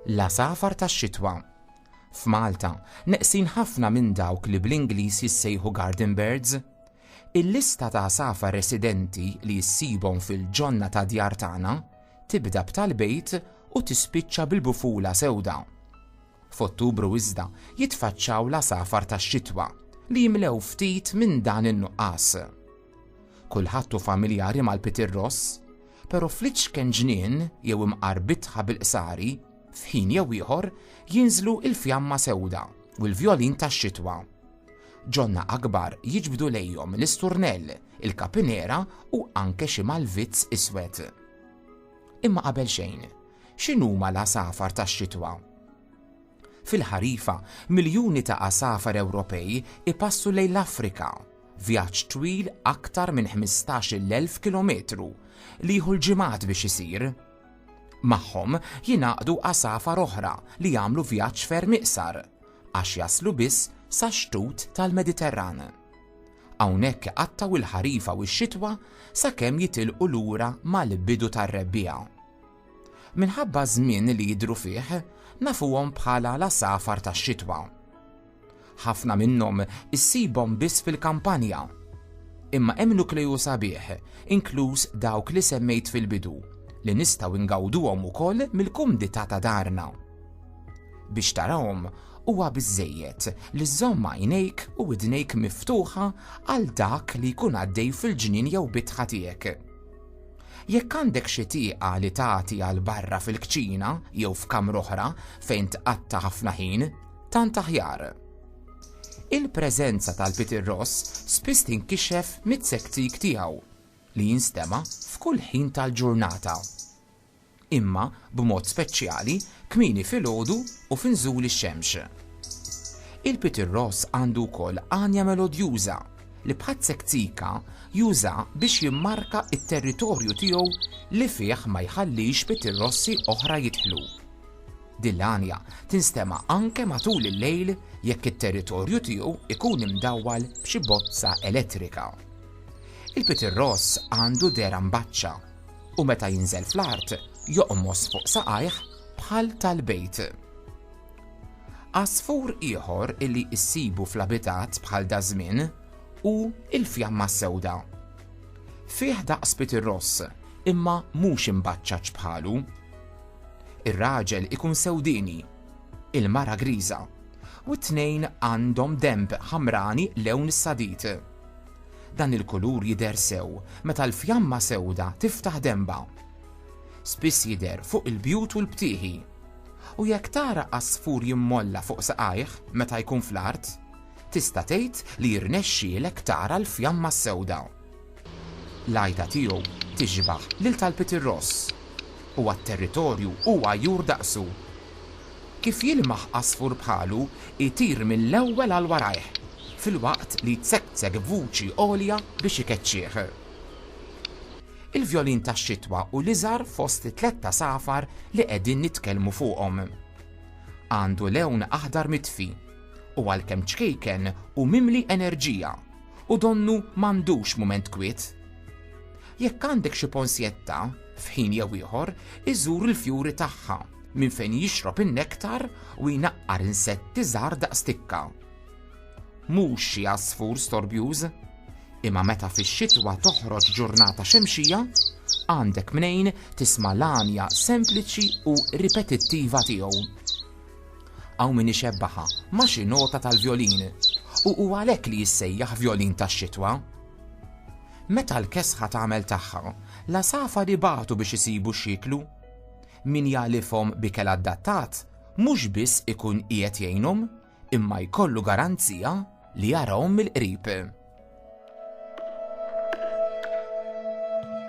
la safar tax-xitwa. F'Malta, neqsin ħafna minn dawk li bl-Ingliż jissejħu garden birds. Il-lista ta' għasafar residenti li ssibhom fil-ġonna tad-djar tagħna tibda b'tal-bejt u tispiċċa bil-bufula sewda. F'Ottubru iżda jitfaċċaw l-għasafar tax-xitwa li jimlew ftit minn dan in-nuqqas. Kulħadd hu familjari mal-pitirross, però fl-iċken ġnien jew imqar bitħa bil-qsari, f'ħin jew ieħor jinżlu l-fjamma sewda u l-vjolin tax-xitwa. Ġonna akbar jiġbdu lejhom l-isturnell, il-kapinera u anke xi malvizz iswed. Imma qabel xejn, x'inhuma l-għasafar tax-xitwa? Fil-ħarifa, miljuni ta' għasafar Ewropej ipassu lejn l-Afrika, vjaġġ twil aktar minn 15,000 kilometru li jieħu l-ġimgħat biex isir. Magħhom jingħaqdu għasafar oħra li jagħmlu vjaġġ ferm iqsar, għax jaslu biss sax-xtut tal-Mediterran. Hawnhekk iqattgħu l-ħarifa u x-xitwa sakemm jitilqu lura mal-bidu tar-rebbiegħa. Minħabba ż-żmien li jidhru fih, nafuhom bħala l-għasafar tax-xitwa. Ħafna minnhom issibhom biss fil-kampanja. Imma hemm nukleju sabiħ, inkluż dawk li semmejt fil-bidu, li nistgħu ngawduhom ukoll mill-kumdità ta' darna. Biex tarahom, huwa biżżejjed li żżomm għajnejk u widnejk miftuħa għal dak li jkun għaddej fil-ġnien jew bitħa tiegħek. Jekk għandek xi tieqa li tagħti għal barra fil-kċina jew f'kamra oħra fejn tqatta' ħafna ħin, tant aħjar. Il-preżenza tal-Peter Ross spiss tinkixef mit-sektik tiegħu li jinstema' f'kull ħin tal-ġurnata. imma b'mod speċjali kmieni filgħodu u fi nżul ix-xemx. Il-pitirross għandu wkoll għanja melodjuża li Pazek Zika juża biex jimmarka t-territorju tiegħu li fih ma jħallix pitirrossi oħra jidħlu. Din l-għanja tinstema' anke matul il-lejl jekk it-territorju tiegħu jkun imdawwal b'xi bozza elettrika. Il-pitirross għandu dehra mbaċċa. U meta jinżel fl-art, joqmos fuq saqajh bħal tal-bejt. Għasfur ieħor illi issibu fl-abitat bħal daż-żmien hu l-fjamma s-sewda. Fih daqs pitirross, imma mhux imbaċċaġġ bħalu. Ir-raġel ikun sewdieni, il-mara griża, u t-tnejn għandhom denb ħamrani lewn is-sadid. Dan il-kulur jidher sew meta l-fjamma sewda tiftaħ denba. Spiss jidher fuq il-bjut u l-btieħi. U jekk tara għasfur jimmolla fuq saqajh meta jkun fl-art, tista' tgħid li jirnexxielek tara l-fjamma s-sewda. L-għajta tiegħu tixbah lil tal-pitirross. Huwa t-territorju u għajjur daqsu. Kif jilmaħ għasfur bħalu jtir mill-ewwel għal warajh, filwaqt li jtsekksek b'vuċi għolja biex ikeċċih. Il-vjolin tax-xitwa hu l-iżgħar fost it-tlett għasafar li qegħdin nitkellmu fuqhom. Għandu lewn aħdar mitfi, u għalkemm ċkejken hu mimli enerġija u donnu m'għandux mument kwiet. Jekk għandek xi ponsjetta, f'ħin jew ieħor, iżur il-fjuri tagħha, minn fejn jixrob in-nektar u jnaqqar insetti żgħar daqs tikka. Mhux xi għasfur storbjuż, imma meta fix-xitwa toħroġ ġurnata xemxija, għandek mnejn tisma' l-għanja sempliċi u ripetittiva tiegħu. Hawn min ixebbaha ma' xi nota tal-vjolin, u hu għalhekk li jissejjaħ vjolin tax-xitwa. Meta l-kesħa tagħmel tagħha, l-għasafar ibatu biex isibu x'jieklu. Min jagħlifhom b'ikel adattat mhux biss ikun qiegħed jgħinhom, imma jkollu garanzija li jarahom mill-qrib.